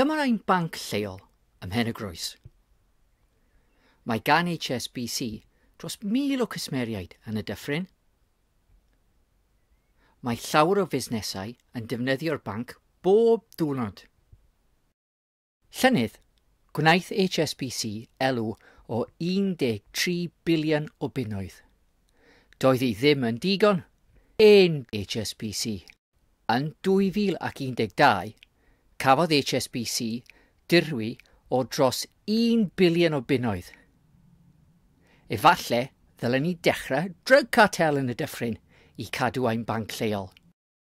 Dyma ein banc lleol ym Mhen y Groes. Mae gan HSBC dros 1,000 o cwsmeriaid yn y dyffryn. Mae llawer o fusnesau yn defnyddio'r banc bob diwrnod. Llynedd, gwnaeth HSBC elw o 13 biliwn o bunnoedd. Doedd hi ddim yn digon, yn HSBC. Yn 2012, cafodd HSBC dirwy o dros un biliwn o bunnoedd. Efallai ddylen ni dechrau drug cartel yn y dyffryn i cadw ein banc lleol.